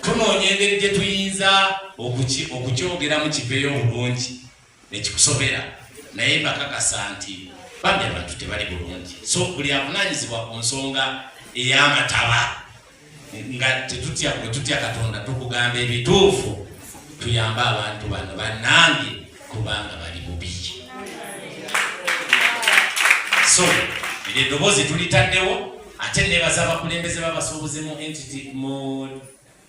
tunoonya engeri gye tuyinza okukyogeramu kiveeyo obulungi nekikusobera naye bakakasa nti bambi abantu tebali bulungi so buli avunanyizibwa ku nsonga ey'amataba nga tetutya bwe tutya katonda tukugamba ebituufu tuyambe abantu bano banange kubanga bali bubi so eddoboozi tulitaddewo ate nebaza abakulembeze babasuubuzi mu entity mu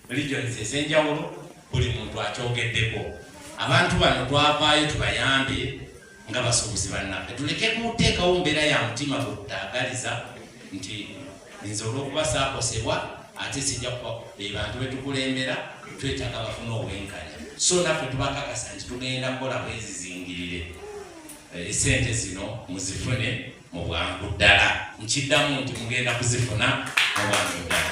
regions ezenjawulo buli muntu akyogeddeko abantu bano twavaayo tubayambye nga basuubuzi bannaffe tuleke kuteekawo mbeera ya mutima gutagaliza nti nze olwokuba saakosebwa ate sijja kuba be bantu betukulembera twetaaga bafuna obwenkanya so naffe tubakakasa nti tugenda kukola bwezizingirire esente eh, zino muzifune mu bwangu ddala nkiddamu nti mugenda kuzifuna mu bwangu ddala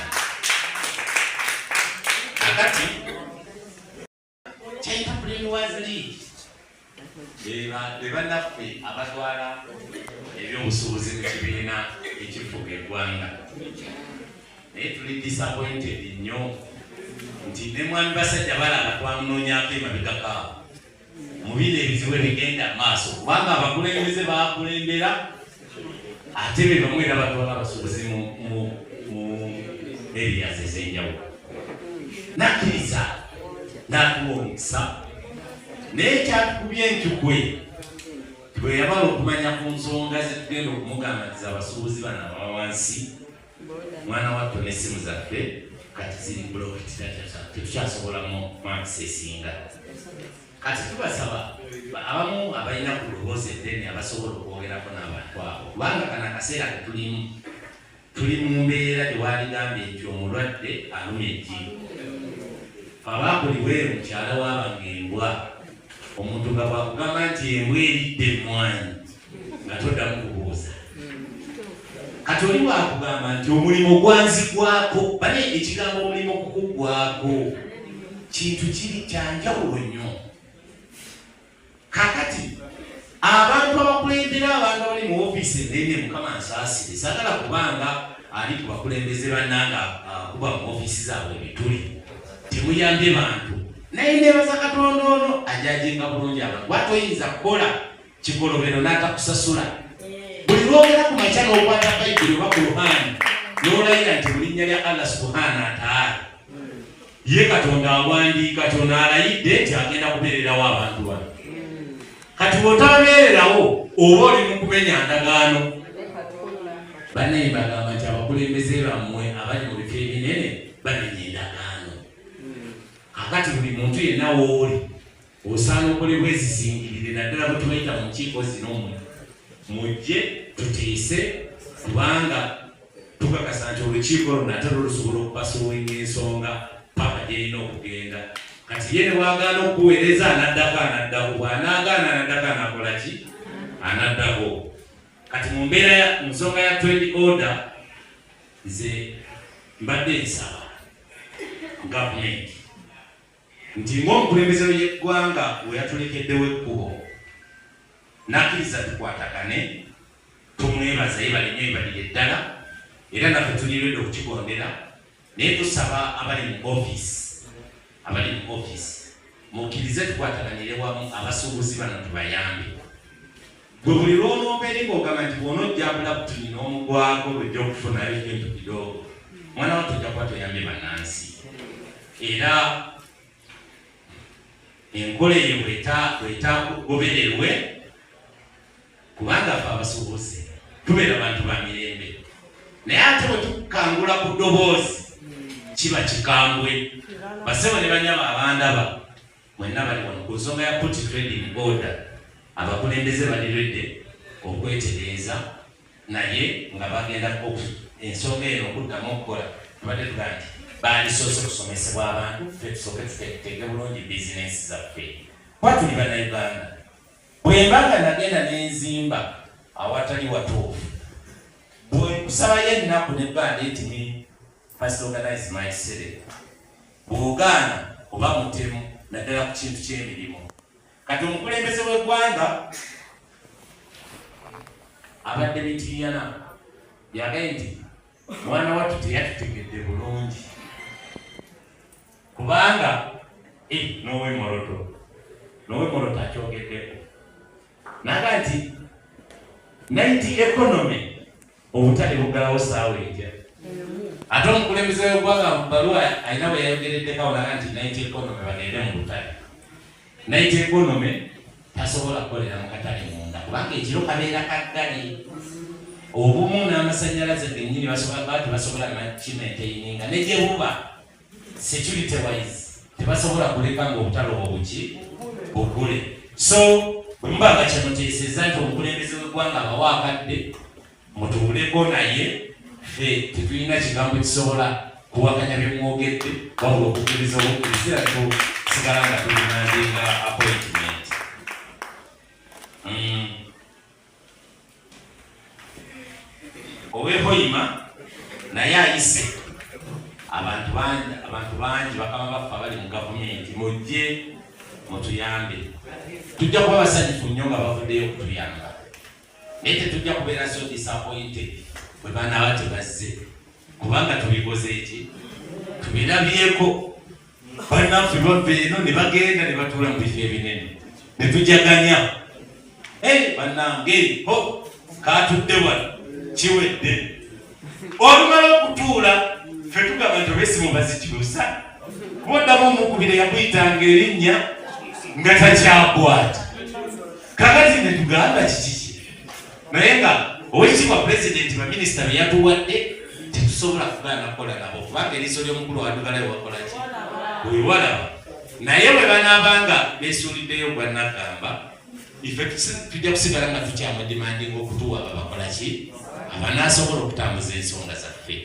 akati kyayitakulemiwaziri bebanaffe abatwala ebyobusuubuzi mu kibiina ekifuga eggwanga naye tuli disappointed nnyo nti ne mwami basajja balaba twamunoonyako emabegakaawo mu bino ebizibu ebigenda mu maaso kubanga abakulembeze bakulembera ate be bamu era batwala abasuubuzi mu eriyazi ez'enjawulo nakkiriza n'atuwa omukisa naye kyatukubye enkyukwe bwe yabala okumanya ku nsonga zetugenda okumugambatiza abasuubuzi bano abawansi mwana wattu n'essimu zaffe kati ziri bulokitiraaa tetukyasobolamu maakisi esinga kati tubasaba abamu abalina ku luboozi eddene abasobola okwogerako n'abantu abo kubanga kana akaseera ketulimu tuli mu mbeera gyewaligambye nti omulwadde aluma ejjiiko abaakuliweemu mukyala waabanga embwa omuntu nga bwakugamba nti embwa eridde emmwanyi nga toddamu kubuuza kati oli wakugamba nti omulimu gwanzigwako bane ekigambo omulimu kukugwako kintu kiri kyanjawulo nnyo kakati abantu abakulembera abantu abali mu ofiisi enene mukama nsaasire sagala kubanga ali ku bakulembeze bannanga akuba mu ofiisi zaabwe ebituli temuyambye bantu naye nebaza katonda ono ajajinga bulungi abantu batoyinza kukola kikolobero n'atakusasula buli lwogera ku makya n'okwata bayibuli oba kuruhaani n'olayira nti mu linnya lya allah subuhaana ataala ye katonda awandiika kyona alayidde nti agenda kubeererawo abantu bano kati bwotabeererawo oba oli mu kumenya ndagaano banaye bagamba nti abakulembeze bammwe abali mu bifo ebinene bamenya endagaano kakati buli muntu yenna wooli Osaana okole bwezizingirire naddala bwetubayita mu nkiiko zino mwe mujje tuteese kubanga tukakasa nti olukiiko luno ate lwo lusobola okupasuwinga ensonga paka gyerina okugenda kati ye newagaana okuweereza anaddako anaddako bwanaagaana anaddako anakola ki anaddako kati mu mbeera mu nsonga ya trend order nze mbadde nsaba gavumenti nti ng'omukulembeze w'eggwanga we yatulekeddewo ekkubo n'akkiriza tukwatagane tumwebaza yebale nnyo yebalire ddala era naffe tuliredde okukigondera naye tusaba abali mu ofiisi abali mu ofiisi mukkirize tukwataganire wamu abasuubuzi bano tubayambe Gwe buli lw'olomba eri ng'ogamba nti bwona ojja bulabutini n'omugwako lwojja okufunayo ekintu kidoogo mwana wa tojja kuba toyambye bannansi era enkola eyo bwetagobererwe kubanga fe abasubuuzi tubeera bantu ba mirembe naye ate bwe tukangula ku ddoboozi kiba kikambwe basebo ne banyama abandaba Mwenna bali wano ku nsonga ya Put Trade in Order, abakulembeze bali ready okwetereeza naye nga bagenda ensonga eno okuddamu okukola tubadde tugaa nti baalisoose kusomesebwa abantu fe tusooke tuteeke bulungi bizinensi zaffe kuba tuli banauganda bwemba nga nagenda nenzimba awatali watuufu bwekusalayo ennaku nebbanda etimi First organize my city. Bw'ogaana oba mutemu naddala ku kintu ky'emirimu. Kati omukulembeze w'eggwanga abadde mitiiyana yagaye nti mwana wattu teyatutegedde bulungi kubanga eh, n'owemoloto n'owemoloto akyogeddeko naga nti naiti ekonomi obutale buggalawo saawa eja ate omukulembeze wegwanga mubaluwa alina bwe yayogereddeko awulaga nti nit economy bagende mu butale nit economy tasobola kukolera mu katale munda kubanga ekiro kabeera kaggale obumu n'amasanyalaze genyini basobola bati basobola nakimenteyininga negyebuba security wise tebasobola kuleka nga obutalo obuki bukule so mbaga kyemuteeseza nti omukulembeze wegwanga abawa akadde mutuuleko naye fe tetulina kigambo kisobola kuwakanya byemwogedde wabula okukiriza obukiriza tusigala nga tulinandinga appointment mm. owehoima naye ayise abantu bangi abantu bangi bakaba baffe abali mu gavumenti mujje mutuyambe tujja kuba basanyufu nnyo nga bavuddeyo okutuyamba naye tetujja kubeera so disappointed bwe banaaba tebazze kubanga tubikoze eki tubirabyeko banaffe bava eno ne bagenda ne batuula mu bifo ebinene ne tujaganya eh, banange ho katudde wano kiwedde olumala okutuula fe tugamba nti obesimu bazikyusa kuoddamu omukubire yakuyitanga erinnya nga takyakwata kakati ne tugamba kiki naye nga owekitiibwa pulezidenti baminisita be yatuwadde tetusobola kugaana kukola nabo kubanga eriiso ly'omukulu wadugalayo wakolaki webalaba naye bwe banaaba nga beesuuliddeyo gwannagamba ife tujja kusigala nga tukyamudimandinga okutuwa babakolaki abanaasobola okutambuza ensonga zaffe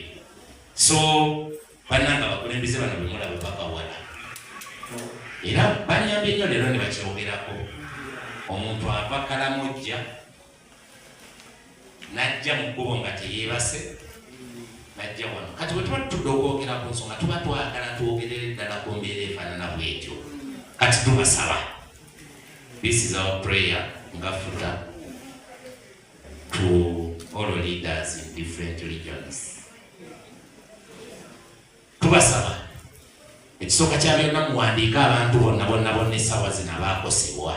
so banange abakulembeze bano bemulaba babawala era banyambye nnyo leero ne bakyogerako omuntu ava kalamojja najja mu kkubo nga teyeebase najja wano kati bwe tuba tutudde okwogera ku nsonga tuba twagala twogerere ddala ku mbeera efaanana bwetyo kati tubasaba this is our prayer nga futa to all leaders in different regions tubasaba ekisooka kya byonna muwandiike abantu bonna bonna bonna essaawa zino abaakosebwa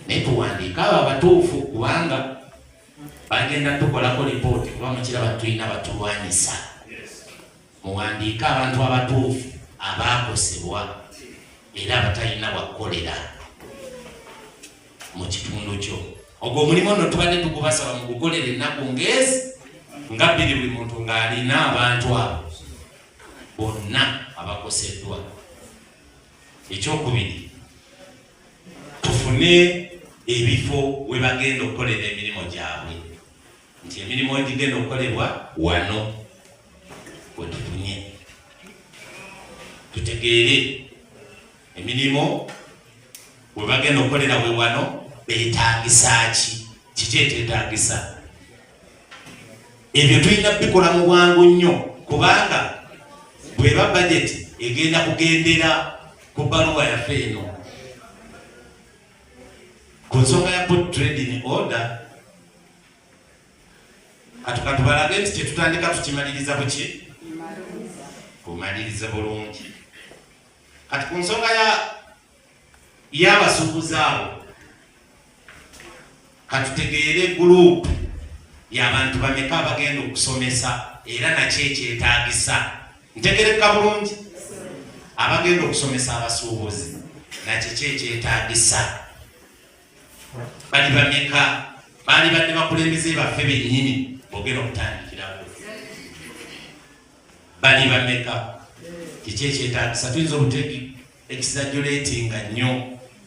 naye tuwandiike abo abatuufu kubanga bagenda tukolako lipooti kuba mukiraba tulina batulwanyisa muwandiike abantu abatuufu abaakosebwa era abatalina wakukolera mu kitundu kyo ogwo omulimu no tubadde tugubasaba mu gukolera ennaku ngezi nga bbiri buli muntu ng'alina abantu abo bonna abakoseddwa ekyokubiri tufune ebifo we bagenda okukolera emirimu gyabwe nti emirimu egigenda okukolebwa wano wetufunye tutegeere emirimu we bagenda okukolera we wano beetagisa ki kiki ekyetagisa ebyo tulina bikola mu bwangu nnyo kubanga bweba bajeti egenda kugendera ku baluwa yaffe eno ku nsonga ya put trading order katukatubalage nti kyetutandika tukimaliriza buki kumaliriza bulungi kati ku nsonga ya y'abasuubuzi abo katutegeere guruupu y'abantu bameka abagenda okusomesa era nakyo ekyetaagisa ntegereka bulungi abagenda okusomesa abasuubuzi nakyo kyo ekyetaagisa bali bameka baali badde bakulembeze baffe bennyini bogenda okutandika bali bameka kiki ekyetagisa tuyinza obutegi exaggeratinga nnyo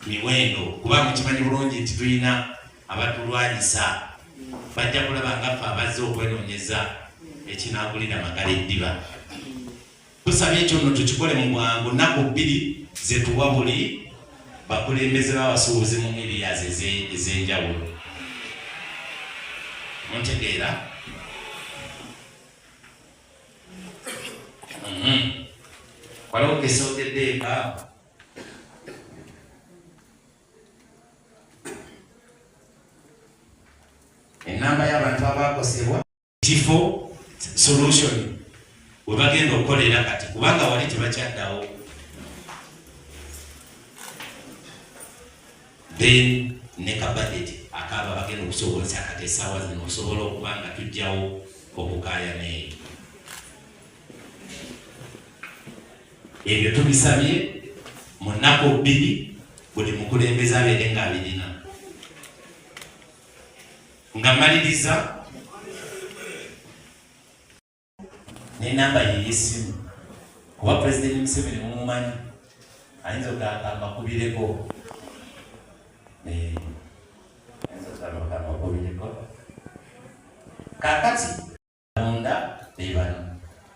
miwendo kuba mukimanyi bulungi nti tulina abatulwanyisa bajja kulaba nga ffe abazze okwenoonyeza ekinagulira magala eddiba tusaba ekyo no tukikole mu bwangu nnaku bbiri zetuwa buli bakulembeze babasuubuzi mu erias ez'enjawulo muntegeera Mm-hmm. waliwo kesogedde eka enamba y'abantu abakosebwa kifo solution webagenda okukolera kati kubanga wali tebakyaddawo then ne ka budget akaaba bagenda okusobozesa kati essaawa zino osobola okuba nga tujjawo okukaaya neeyo ebyo tubisabye mu nnaku bbiri buli mukulembeze abeere nga abirina nga maliriza ne namba ye yesimu kuba pulezidenti museveni mumumanyi ayinza ogamba amakubireko eh, kakati munda bebano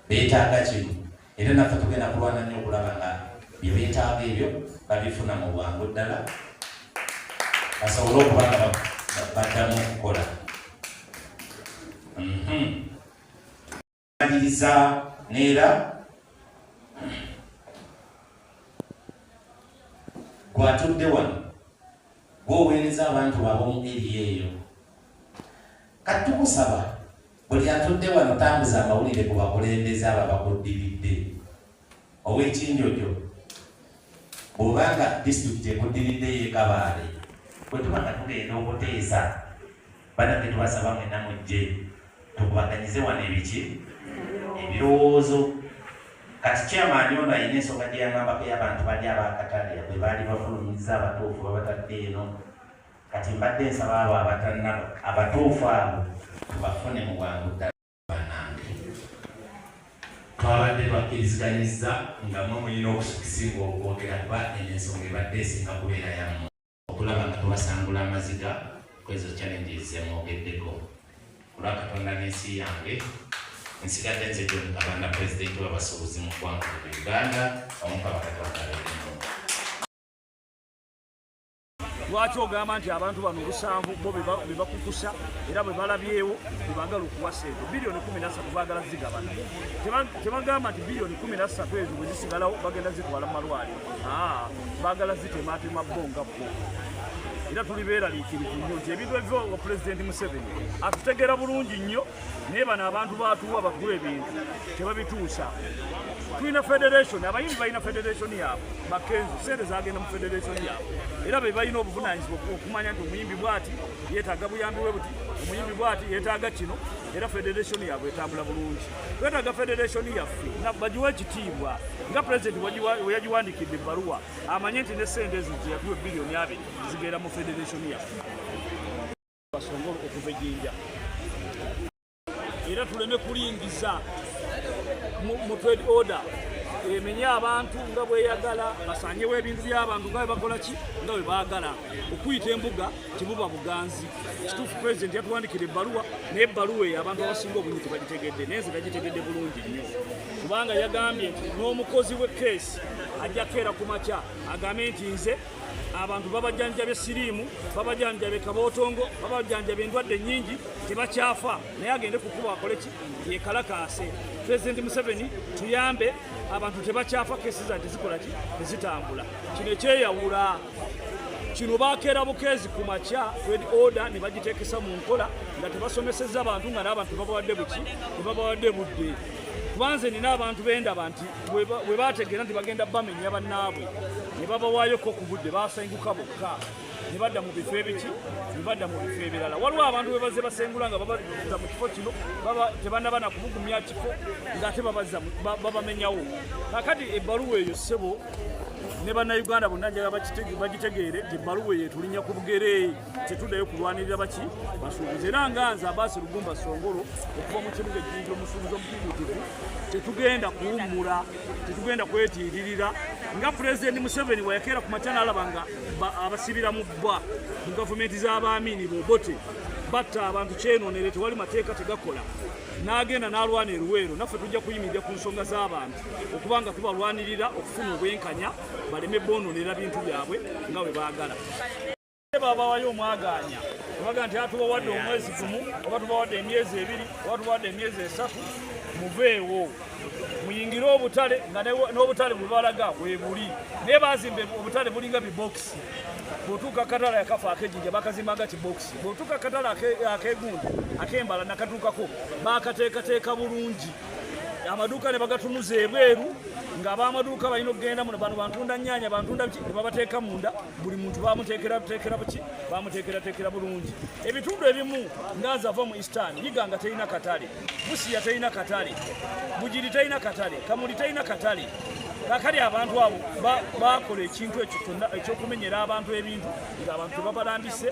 betaaga kimu era naffe tugenda kulwana nnyo okulaba nga byebetaaga ebyo babifuna mu bwangu ddala basobole okuba nga baddamu okukola mhm. Maliriza neera gwatudde wano gwoweereza abantu ab'omu eri eyo kati tukusaba buli atudde wano tambuza amawulire ku bakulembeze abo abakuddiridde Ow'ekinjojo bw'oba nga disitulikiti ekuddiridde y'ekabaale bwe tuba nga tugenda okuteesa banange tubasaba mwena mujje tukubaganyize wano ebiki ebirowoozo kati kyamaani ono alina ensonga gye yangambako y'abantu bali abakatale bwe baali bafulumiza abatuufu babatadde eno kati mbadde nsaba abo abatanaba abatuufu abo tubafune mu bwangu ddala banange twabadde bakkiriziganyizza nga mwe mulina okusikisinga okwogera kuba eno ensonga ebadde esinga kubeera yamu okulaba nga tubasangula amaziga kwezo challenges zemwogeddeko olwa katonda n'ensi yange nsigadde nze gyonkabanda pulezidenti wabasuubuzi mu ggwanga uganda omukabakatonda lwaki ogamba nti abantu bano obusanvu bo bebakukusa era bwebalabyewo bebagala okuwa sente biliyoni kumi nasatu bagala zigabana tebagamba nti biliyoni kumi nasatu ezo bwezisigalawo bagenda zitwala mu malwali bagala zitematema bo nga bo era tuli beeraliikirivu nnyo nti ebintu ebiva wa pulezidenti museveni atutegeera bulungi nnyo naye bano abantu batuwa bakuwa ebintu tebabituusa tulina federation abayimbi balina federation yaabwe makenzi sente zagenda mu federation yaabwe era be balina obuvunanyizibwa okumanya nti omuyimbi bwati yetaaga buyambi bwe buti omuyimbi bwati yetaaga kino era federation yaabwe etambula bulungi twetaaga federation yaffe nga bagiwa ekitiibwa nga pulezidenti weyagiwandikidde ebbaluwa amanye nti ne sente ezo zeyakuwa ebbiliyoni abiri zigenda mu federation yaffe basongole okuva ejinja era tuleme kulingiza mu trade order emenye abantu nga bweyagala basanyewo ebintu byabantu nga bebakola ki nga bwebagala okuyita embuga tibuba buganzi kituufu pulezidenti yatuwandikira ebbaluwa naye ebbaluwa eyo abantu abasinga obunyi tebagitegedde naye nze nagitegedde bulungi nnyo kubanga yagambye nti n'omukozi w'ekkeesi ajja keera ku makya agambe nti nze abantu babajanjabye siriimu babajanjabye kabootongo babajanjabye endwadde nyingi tebakyafa naye agende kukuba akoleki yekalakaase pulezidenti museveni tuyambe abantu tebakyafa kesi zante zikolaki tezitambula kino ekyeyawula kino bakeera bukeezi ku makya red order ne bagiteekesa mu nkola nga tebasomesezza bantu nga n'abantu babawadde buki tebabawadde budde kubanze nina abantu bendaba nti we baategeera nti bagenda bamenya bannaabwe ne babawayoko ku budde baasenguka bokka ne badda mu bifo ebiki ne badda mu bifo ebirala waliwo abantu bwe bazze basengula nga babazza mu kifo kino tebanaba na kumugumya kifo ng'ate babazza babamenyawo kakati ebbaluwa eyo ssebo ne bannayuganda bonna njala bagitegeere nti ebbaluwa eyo etulinya ku bugere tetuddayo kulwanirira baki basuubuzi era nga nze abaasi lugumba songolo okuva mu kibuga ejjinja omusuubuzi omutibutivu tetugenda kuwummula tetugenda kwetiiririra nga pulezidenti museveni wayakeera ku makya naalaba nga abasibira mu bbwa mu gavumenti z'abaamiini bobote batta abantu kyenoonere tewali mateeka tegakola n'agenda n'alwana eruweero naffe tujja kuyimirira ku nsonga z'abantu okuba nga tubalwanirira okufuna obwenkanya baleme boononera bintu byabwe nga bwe baagala babawayo omwagaanya obaga nti atubawadde omwezi gumu oba tubawadde emyezi ebiri oba tubawadde emyezi esatu muveewo muyingire obutale nga n'obutale bwebalaga webuli naye bazimba obutale bulinga bibokisi bwotuuka akatale akafa akejinja bakazimaga kibokisi bwotuuka akatale akegundi akembala nakatuukako bakateekateeka bulungi amaduuka ne bagatunuza ebweru ng'abamaduuka balina okugenda muno bano bantunda nnyanya bantunda ki ne babateeka munda buli muntu bamuteekerateekera buki bamuteekerateekera bulungi ebitundu ebimu nganzi ava mu eastern yiga nga terina katale busiya terina katale bugiri terina katale kamuli terina katale kakali abantu abo bakola ekintu ekyo kyonna ekyokumenyera abantu ebintu nga abantu tebabalambise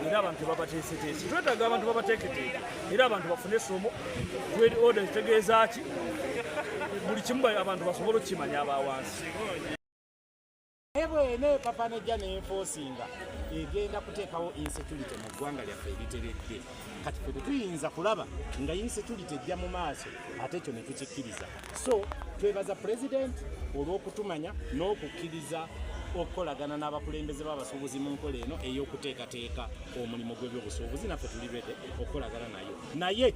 era abantu tebabateeseteese twetaaga abantu babateeketeeke era abantu bafune esomo tweri oda zitegeeza ki buli kimu abantu basobole okukimanya abawansi naye bwena epapa nejja nenfosinga egenda kuteekawo insecurity mu ggwanga lyaffe eriteredde kati fe tetuyinza kulaba nga insecurity ejja mu maaso ate ekyo netukikkiriza so twebaza pulezidenti olw'okutumanya n'okukkiriza okukolagana n'abakulembeze b'abasuubuzi mu nkola eno ey'okuteekateeka omulimu gw'ebyobusuubuzi naffe tuli bede okukolagana nayo naye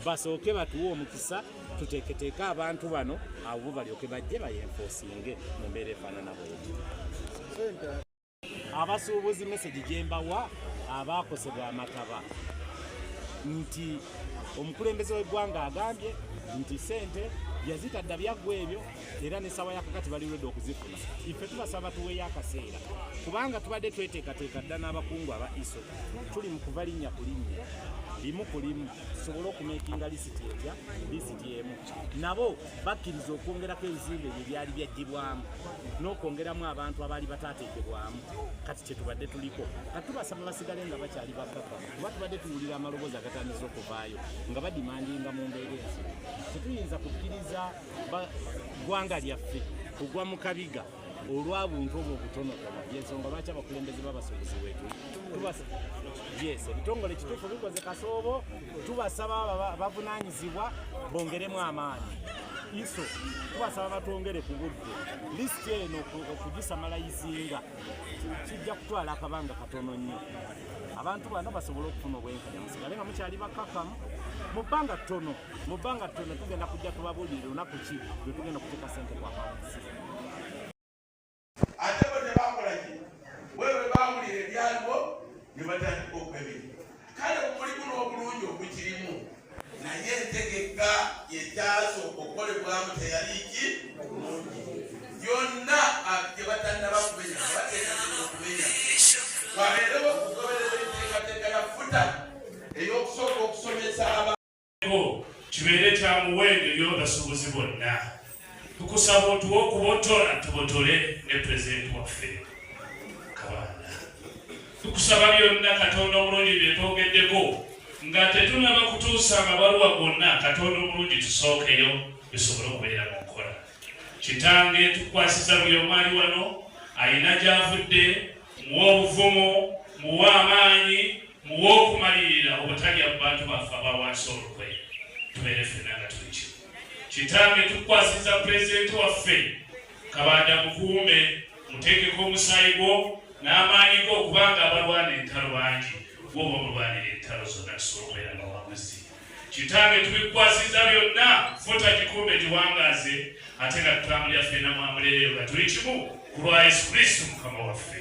basooke batuwe omukisa tuteeketeeke abantu bano abo bo balyoke bajje bayenfosinge mu mbeera efaanana bweti abasuubuzi mesegi gyembawa abaakosebwa amataba nti omukulembeze w'eggwanga agambye nti sente yazitadda byaggwa ebyo era nesawa yakakati bali redi okuzifuna ife tubasaba tuweeyo akaseera kubanga tubadde tweteekateeka dda n'abakungu aba iso tuli mu kuva linnya ku linnya limu ku limu tusobole okumekinga lisiti etya lisiti emu nabo bakkiriza okwongerako ebizimbe ebyo byali byajjibwamu n'okwongeramu abantu abaali bataateekebwamu kati kyetubadde tuliko kati tubasaba basigale nga bakyali bakaka kuba tubadde tuwulira amaloboozi agatandisa okuvaayo nga badimandinga mu mbeera ensi tetuyinza kukkiriza ggwanga lyaffe kugwa mu kabiga olwa buntu obwo obutonotono yensonga lwaki abakulembeze b'abasuubuzi wetu yes ebitongole kituufu bikoze kasoobo tubasaba bavunanyizibwa bongeremu amaanyi iso tubasaba batwongere ku budde lisiti eno okugisamala izinga kijja kutwala akabanga katono nnyo abantu bano basobole okufuna obwenkanya musigale nga mukyali bakakamu mu bbanga ttono mu bbanga ttono tugenda kujja tubabuulire lunaku ki lwe tugenda okuteeka sente ku akawunti ate bo tebakolaki wewe baawulira ebyaliwo ne batandika okwebiri kale omulimu n'obulungi ogukirimu naye entegeka yekyasooka okukolebwamu teyali ki bulungi yonna gye batannaba kumenya bateekateeka okumenya wabeerewo okugoberera enteekateeka ya futa ey'okusooka okusomesa aba kibeere kya muwendo eri abasuubuzi bonna tukusaba otuwa okubotola tubotole ne pulezidenti waffe kabaana tukusaba byonna katonda omulungi byetwogeddeko nga tetunaba kutuusa amabaluwa gonna katonda omulungi tusookeyo bisobole okubeera mu nkola kitange tukwasiza buli omwali wano alina gyavudde muwa obuvumu muwa amaanyi Mu w'okumalirira obutalya mu bantu baffe aba wansi olukwe tubeere ffenna nga tuli kimu. Kitange tukwasiza pulezidenti waffe kabanda mukuume muteekeko omusaayi gwo n'amaanyi go okubanga abalwana entalo bangi woba omulwanira entalo zonna tusobola nga wamuzi kitange tubikwasiza byonna futa kikuume giwangaaze ate nga tutambulira ffena mwamulereyo nga tuli kimu ku lwa yesu kristu mukama waffe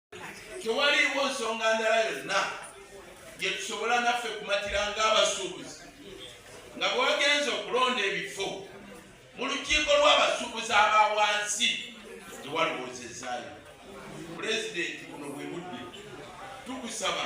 tewaliiwo nsonga ndala yonna gyetusobola naffe kumatira ng'abasuubuzi nga bwewagenza okulonda ebifo mu lukiiko lw'abasuubuzi aba wansi tewalowoozezaayo pulezidenti buno bwe budde tukusaba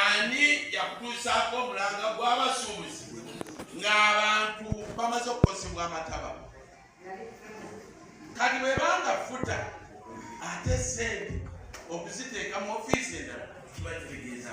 ani yakutuusaako omulanga gw'abasuubuzi ng'abantu bamaze okukosebwa amataba kati bwebanga futa ate sente okuziteeka mu ofiisi endala kiba kitegeeza